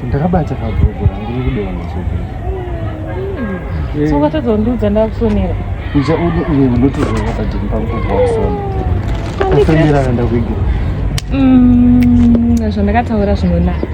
ndakabata kabhuku rangu rikudonha so ukatozondiudza ndakusonera icha udi uye unotozoona pajeni pangu kubva kusona kusonera kanda kuigura zvandakataura zvinonaka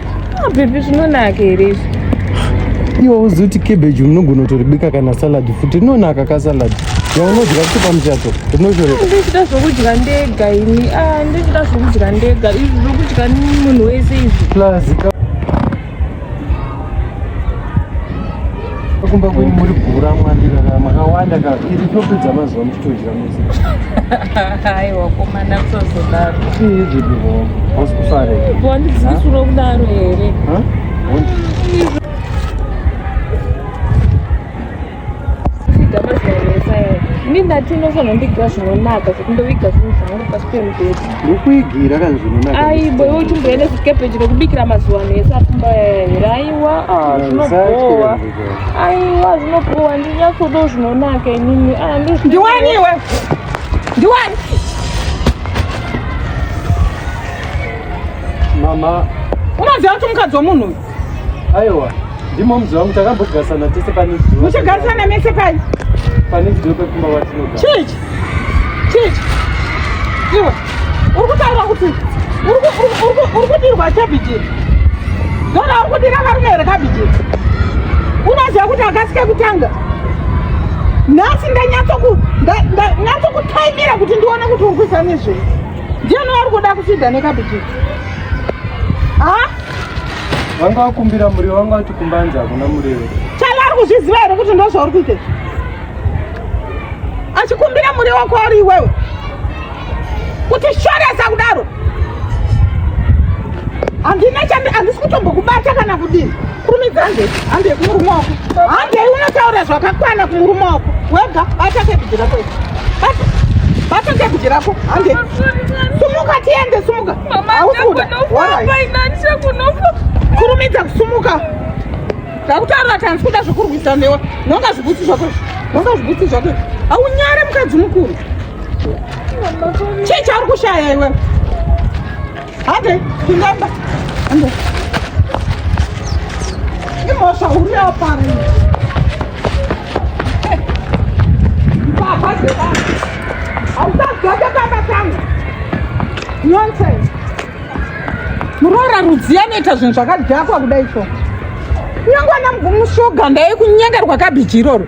Ah, baby zvinonaka here izvi? Iwe uzi kuti cabbage unogona kutoribika kana salad futi rinonaka ka salad yaunodya kuti pamuchato rinoshoreka. Ndichida zvokudya ndega ini. Ah, ndichida zvokudya ndega. Izvi zvokudya munhu wese izvi. Plus kumba kwenyu muri gura mwandira makawanda ka iri topi dzamazuva muchitodya mese aiwa komana kusazodaro iizvidivo hausi kufare wandidzikisuro kudaro here ini ndati unofanira ndigira zvinonaka zvekundoviga zvinhu zvangu pasi pemubhedha Rukwigi rakanzvinunaka. Aibo iwe uchimboenda kukepeji rekubikira mazuva ano ese apfumba here aiwa ah, zvinobowa aiwa zvinobowa ndinyatsodo zvinonaka inini ah, ndiwani iwe ndiwani mama unoziva kuti mukadzi wemunhu uyu Aiwa, ndimo mzi wangu takambogarisana tese pane zuva. Muchagarisana mese pai? Pane zuva pekumba watinogara. Chichi. Chichi. Iwe. Uri kutaura kuti uri kudirwa cabbage. Ndona uri kudira varume here cabbage. Unoziva kuti akasike kutanga. Nhasi ndanyatsoku ndanyatsokutaimira kuti ndione kuti uri kuisa nezvei. Ndiani wari kuda kusida necabbage. Ah? vanga vakumbira muriwo vanga vati kumbanzi hakuna muriwo chala ari kuzviziva here kuti ndo zvauri kuita achikumbira muriwo wako ari iwewe kuti shoresa kudaro handina chandi handisi kutombokubata kana kudini kurumidza handei handei kumurume wako handei unotaura zvakakwana kumurume wako wega bata kebhiji rako bata bata kebhiji rako handei sumuka tiende sumuka Mama, Haukuda. ndakunofa, Warai. paina ndichakunofa. kurumidza kusumuka ndakutaura kuti handisi kuda zvekurwisa newe nonga zvibutsi zvako izvi. nonga zvibutsi zvako izvi. haunyare mukadzi mukuru Mama, paina. chii chauri kushaya iwe hande pindamba hande imhosva huru yapara iyi. Eh, mbavha dzebana Hausadzoke pamba pangu. Nonsense. Muroora rudzii anoita zvinhu zvakadhakwa kudai so. Kunyange ana mvumushoga ndaikunyengerwa kabhiji iroro.